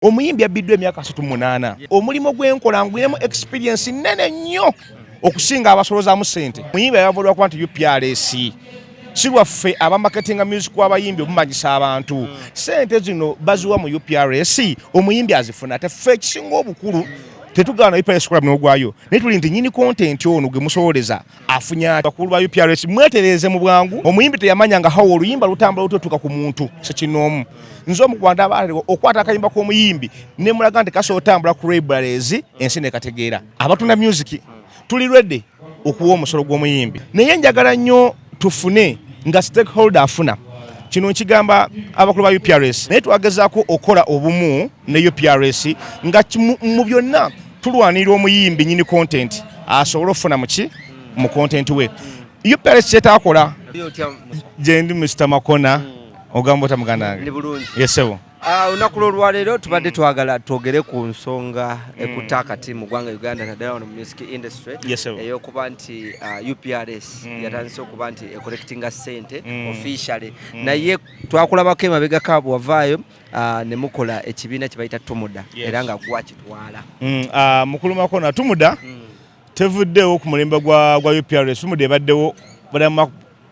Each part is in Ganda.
omuyimbi abbiddwa emyaka asatu munaana omulimu gwenkola nguyemu experience nene nnyo okusinga abasolozaamu sente muyimbi ayavulwa kuba nti uprs si lwaffe abamaketinga music wabayimbi omumanyisa abantu sente zino baziwa mu uprs omuyimbi azifuna ate ffe ekisinga obukulu tetugaana uprs kola muno ogwayo naye tuli nti nyini kontenti ono gwe musololeza afunye abakulu ba UPRS mwetereeze mu bwangu omuyimbi teyamanya nga hawo oluyimba lutambula lutotuka ku muntu sekinoomu nze omu kubantu abaaliwo okwata akayimba k'omuyimbi ne mulaga nti kasobola otambula ku libraries ensi nekategeera abatunda music tuli ready okuwa omusolo gw'omuyimbi naye njagala nnyo tufune nga stakeholder afuna kino nkigamba abakulu ba uprs naye twagezaako okukola obumu ne uprs nga mu byonna tulwanirira omuyimbi nyini content asobole okufuna muki mu content we yo palace kyetakola gyendi mr makona hmm. ogamba ota muganda wange yesebo ah, olunaku lwolwaleero tubadde twagala twogere ku nsonga ekutta hmm. akati mu ggwanga uganda naddala wano mu music industry eyokuba nti ah, uprs hmm. yatandise okuba nti ecollectinga sente officially naye twakulabako emabegako abwavaayo uh, ne mukola ekibiina kye bayita tumuda yes. era nga gwakitwala mm, uh, mukulu makona tumuda mm. tevuddewo ku mulembe gwa, gwa uprs tumuda ebaddewo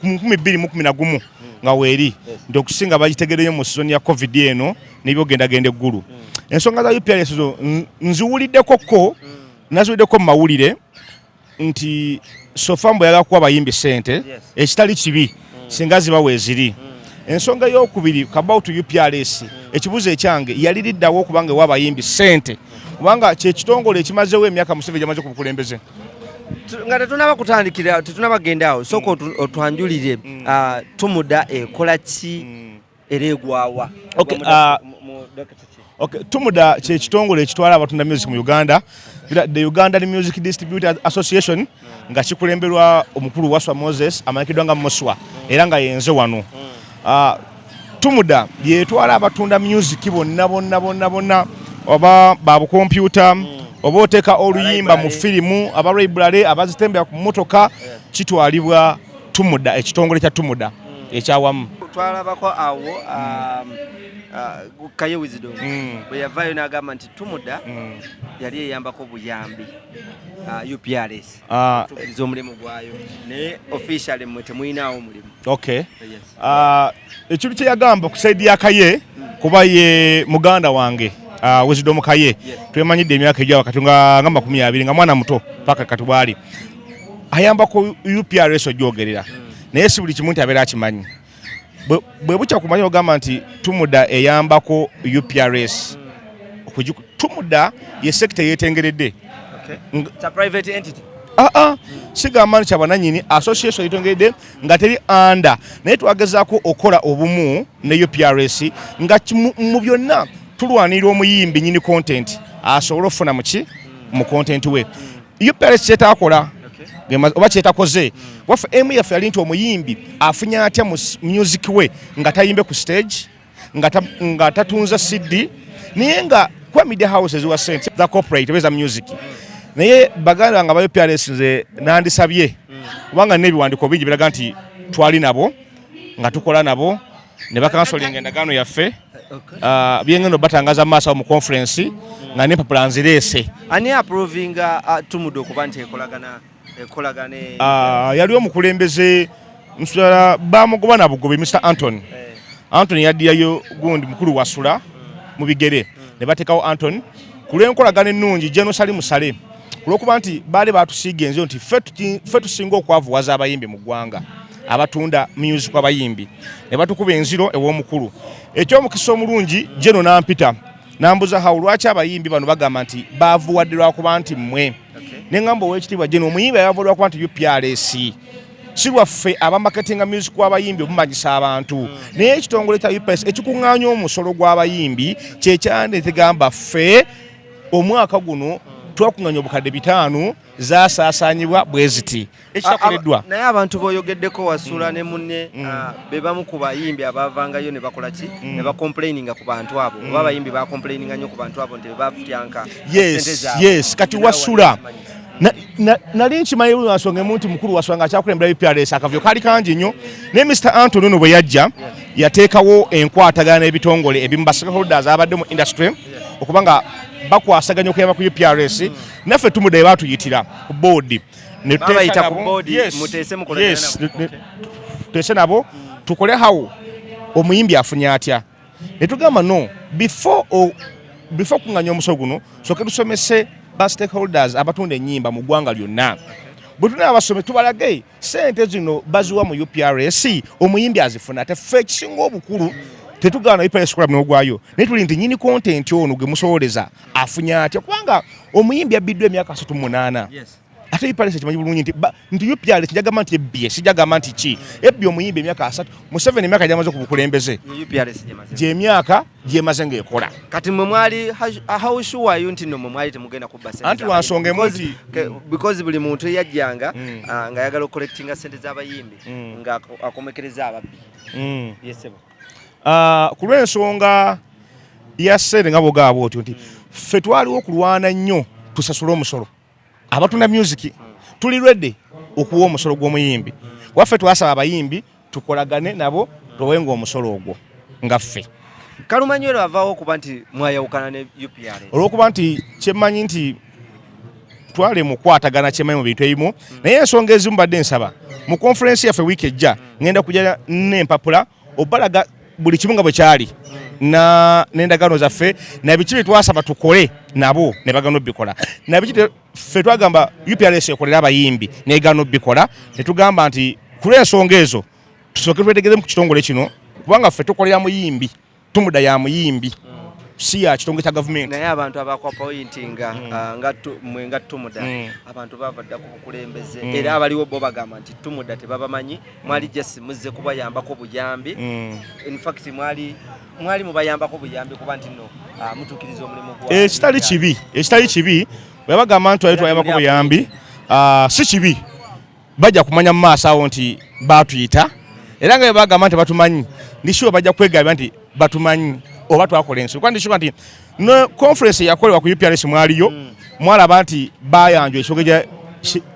kumukumi bbiri mukumi na gumu mm. nga weeri yes. nti okusinga bagitegereyo mu sizoni ya covid eno nebyogendagenda eggulu mm. ensonga za uprs zo nziwuliddeko ko mm. naziwuliddeko mu mawulire nti sofa mbu yagala kuwa bayimbi sente ekitali kibi mm. singa ziba weziri mm. ensonga eyokubiri kabautu uprs mm. ekibuzo ekyange yali liddawo okubanga ewa bayimbi sente kubanga kyekitongole ekimazewo emyaka museveni gyamaze ku bukulembeze nga tetunaba kutandikira tetunaba genda awo sooka otwanjulire ah, tumuda ekola ki era egwawa okay, uh, okay. tumuda kyekitongole ekitwala abatunda music mu uganda the ugandan music distributor association mm. nga kikulemberwa omukulu waswa moses amanyikiddwa nga muswa mm. era nga yenze wano mm. uh, tumuda yetwala abatunda music bonna bonna bonna bonna oba babukompyuta mm. oba oteeka oluyimba mu firimu aba library abazitembera ku mmotoka kitwalibwa tumuda ekitongole kya tumuda ekyawamu twalabako awo um, uh, kaye wizido mm. bwe yavaayo n'agamba nti tumuda mm. yali eyambako buyambi uh, uprs ah. tukiriza omulimu gwayo naye officially mwe temuyinaawo omulimu okay ekintu kye yagamba ku saidi ya kaye kuba ye muganda wange uh, wisdom kaye twemanyidde emyaka egya wakati nga makumi abiri nga mwana muto paka kati bwali ayamba ku uprs ogyogerera naye si buli kimu nti abeera akimanyi bwe bukya kumanya ogamba nti tumuda eyambako uprs tumuda ye sekita yetengeredde okay. It's a private entity. Uh -uh. Sigamba nti abananyini association yetengeredde nga teri anda naye twagezaako okukola obumu ne uprs nga mu byonna tulwanirira omuyimbi nyini content asobole okufuna muki mu content we uprs kyetakola oba kyetakoze waffe emu yaffe yali nti omuyimbi afunye atya mu music we nga tayimbe ku stage nga tatunza CD naye nga kuba media houses wa sente the corporate beza music naye baganda nga bayo PRS nze nandisabye kubanga nebiwandiko bingi biraga nti twali nabo nga tukola nabo ne bakansolinga endagaano yaffe uh, byengendo batangaza maaso mu conference nga nempapula nzireese ani aprovinga uh, tumude okuba nti ekolagana Ah, yali omukulembeze nsula bamugoba na bugobe Mr Anthony eh. Anthony yaddiyayo gundi mukulu wasula mu bigere hmm. ne bateekawo Anthony ku lw'enkolagana ennungi jenosali musale ku lw'okuba nti baali baatusiiga enzo nti ffe tusinga okwavuwaza abayimbi mu ggwanga abatunda music abayimbi ne batukuba enziro ew'omukulu eky'omukisa omulungi jeno nampita nambuza hawo lwaki abayimbi bano bagamba nti baavuwadde lwakuba nti mmwe ne ŋamba owekitiibwa jeno omuyimbi ayavulwa kuba nti uprs si lwaffe abamaketinga music w'abayimbi omumanyisa abantu hmm. naye ekitongole kya uprs ekikuŋŋaanya omusolo gw'abayimbi kyekyandetegamba ffe omwaka guno twakuŋŋanya obukadde bitaano zasaasaanyibwa bwe ziti ekitakoleddwa naye abantu boyogeddeko wasula mm. ne munne mm. ah, be bamu ku bayimbi abavangayo ne bakola ki mm. ne bacomplaininga ku bantu abo oba abayimbi bacomplaininga nnyo ku bantu abo nti bebafutyanka yes kati wasula nali nkimanyi buli nsonga emu nti mukulu wasula nga akyakulembera uprs akavuyo kaali kangi nnyo naye mr antony ono bwe yajja yateekawo enkwatagana n'ebitongole ebimu bastakeholders abadde mu industry okuba nga bakwasaganya okuyamba ku uprs naffe tumudayo batuyitira ku boodi tuteese nabo tukole hawo omuyimbi afunye atya netugamba no before before kunganya omusolo guno soke tusomese ba stakeholders abatunda enyimba mu ggwanga lyonna bwetuna abasome tubalage sente zino baziwa mu uprs omuyimbi azifuna ate fe ekisinga obukulu tetugaana uprs kola mnogwayo naye tuli nti nyini kontenti ono gwe musololeza afunye atya kubanga omuyimbi abbiddwa emyaka asatu munaana ate ipalesa kimanyi bulungi nti nti upyale kijagamba nti ebbye sijagamba nti ki ebbye omuyimbi emyaka asatu museveni emyaka gyamaze ku bukulembeze gyemyaka gyemaze ngaekola kati mwe mwali howshuwayo nti no mwe mwali temugenda kubbaanti lwansonga emu nti because buli muntu eyajjanga mm. ah, nga ayagala okukolectinga sente z'abayimbi mm. nga akomekereza ababbi mm. yesebo ah, ku lw'ensonga ya ssente nga bwogaaba otyo nti ffe twaliwo okulwana nnyo tusasule omusolo abatunda myuziki tuli redi okuwa omusolo gw'omuyimbi waffe twasaba abayimbi tukolagane nabo towenga omusolo ogwo nga ffe kalumanywero avaawo okuba nti mwayawukana ne upr olwokuba nti kyemmanyi nti twale mukwatagana kyemanyi mu bintu ebimu naye ensonga ezimu badde nsaba mu konferensi yaffe wiiki ejja ngenda kujja n'empapula obalaga buli kimu nga bwe kyali n'endagaano zaffe nabiki bye twasaba tukole nabo ne bagana obikola nabiki ffe twagamba uprs ekolera abayimbi negana obikola ne tugamba nti ku lw'ensonga ezo tusooke twetegeremu ku kitongole kino kubanga ffe tukolera muyimbi tumuda ya muyimbi si ya kitongole kya gavumenti naye abantu abakwapointinga mm. ah, nga mwe nga tumuda mm. abantu bava dda ku bukulembeze mm. era abaliwo bo bagamba nti tumuda tebabamanyi mwali mm. jesi muzze kubayambako buyambi mm. infact mwali mwali mubayambako buyambi kuba nti no ah, mutukiriza omulimu gwa ekitali eh, kibi ekitali eh, kibi webagamba nti wali twayambako buyambi ah, si kibi bajja kumanya mu maaso awo nti baatuyita era nga bebagamba nti batumanyi ndishuwa bajja kwegabya nti batumanyi oba twakola ensi kuba ndishuwa nti ne conference yakolebwa ku uprs mwaliyo mm. mwalaba nti bayanjwa ekyoge gya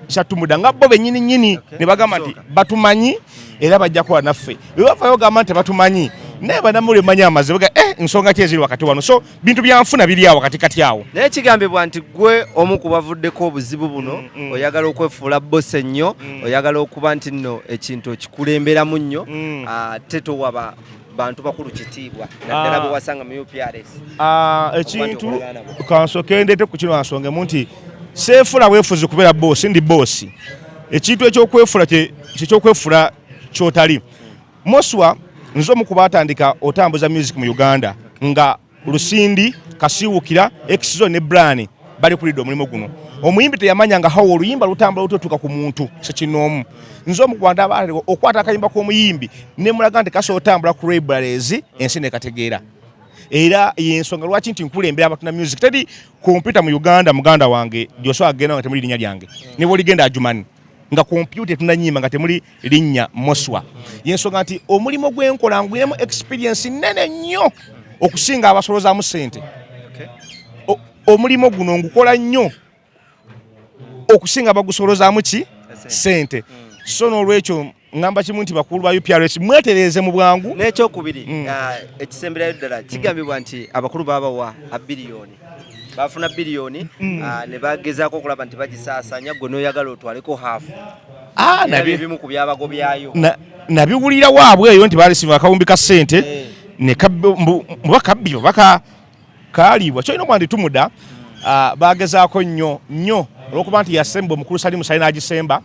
kyatumuda nga bo benyini nyini ne bagamba nti batumanyi era bajja kuba naffe bwe bavayo gamba nti batumanyi naye banamuli manyi amazibu ga eh nsonga ki eziri wakati wano so bintu byanfuna biri awo kati kati awo naye kigambibwa nti gwe omu ku bavuddeko obuzibu buno mm, mm. oyagala okwefuula bose nnyo mm. oyagala okuba nti nno ekintu okikulemberamu nnyo ate ah, towaba bantu bakulu kitiibwa naddala ah. bwe wasanga mu uprs ah, ekintu kansoke ndeete ku kino ansongemu nti seefula weefuzi kubeera boosi ndi boosi ekintu ekyokwefula kyekyokweefula kyotali Moswa nze omu ku baatandika otambuza music mu Uganda nga Lusindi, Kasiwukira, Exzo ne Brani bali kulidde omulimu guno. Omuyimbi teyamanya nga hawo oluyimba lutambula lutotuka ku muntu sekinoomu. Nze omu ku bantu abaalewa okwata akayimba k'omuyimbi ne mulaga nti kasobola otambula ku libraries ensi ne kategeera. Era y'ensonga lwaki nti nkulembera abatuna music. Teri kompyuta mu Uganda muganda wange gy'osobola kugenda nga temuli linnya lyange. Ne bw'oligenda Ajumani. nga kompyuta etunanyima nga temuli linnya moswa yensonga nti omulimu gwenkola nguyemu experience nene nnyo okusinga abasolozamu sente omulimu guno ngukola nnyo okusinga bagusolozamu ki sente so nolwekyo ngamba kimu nti bakulu ba UPRS mwetereeze mu bwangu. N'ekyokubiri mm. ah, ekisemberayo ddala kigambibwa nti abakulu baabawa abiliyoni bafuna biliyoni mm. ah, ne bagezaako okulaba nti bagisaasaanya gwe n'oyagala otwaleko haafu ah, ebimu ku byabago byayo nabiwulira waabwe eyo nti baalisimu akawumbi ka ssente eh. mubakabbi obaka kaliibwa kyolina okuba nti tumuda ah, bagezaako nnyo nnyo olwokuba nti yasemba omukulu salimu sali n'agisemba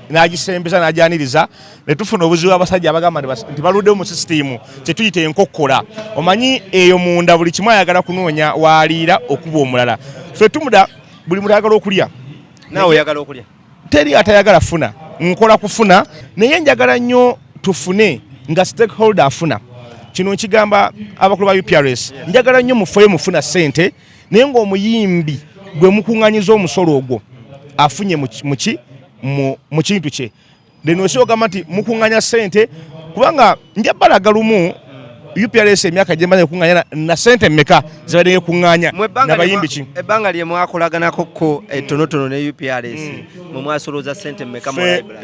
n'agisembeza n'agyaniriza ne tufuna obuzibu abasajja abagamba nti baluddewo mu sisitiimu kye tuyita enkokkola omanyi eyo munda buli kimu ayagala kunoonya waaliira okuba omulala fe tumuda buli mutayagala okulya naawe oyagala okulya teri atayagala funa nkola kufuna naye njagala nnyo tufune nga stakeholder afuna kino nkigamba abakulu ba uprs njagala nnyo mufeyo mufuna sente naye ngaomuyimbi gwe mukuŋanyiza omusolo ogwo afunye muki mu kintu kye lino osi ogamba nti mukunganya sente kubanga nja balaga lumu uprs emyaka gyemaze ekunganya na sente meka zibadde ekunganya nabayimbi ki ebbanga lye mwakolaganako ko etonotono eh, ne uprs mm. mwe mwasolooza sente meka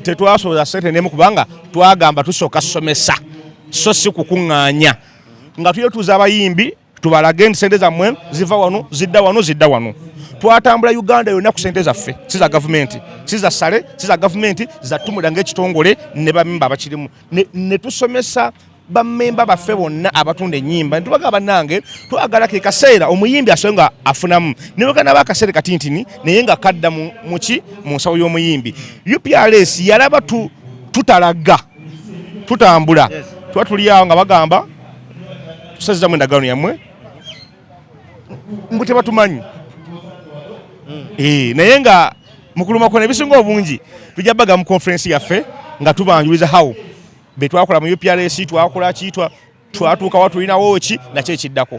tetwasolooza sente nemu kubanga twagamba tusooka somesa so si kukunganya nga tuyetuza abayimbi tubalage nti sente zammwe ziva wano zidda wano zidda wano twatambula uganda yonna ku sente zaffe si za gavumenti si za sale si za gavumenti zatumulira ngaekitongole ne bamemba abakirimu ne tusomesa bamemba baffe bonna abatunda enyimba nitubaga banange twagala ke kaseera omuyimbi asobe nga afunamu neweganaba akaseera katintini naye nga kadda muki mu nsawo y'omuyimbi uprs yalaba tutalaga tutambula tuba tuliawo nga bagamba tusazizamu endagaano yammwe mbu tebatumanyi hmm. eh, naye nga mukuluma kona ebisinga obungi tujja baga mu conference yaffe nga tubanjuliza how betwakola mu uprs twakola kitwa twatuuka watulinawo ki nakyo ekiddako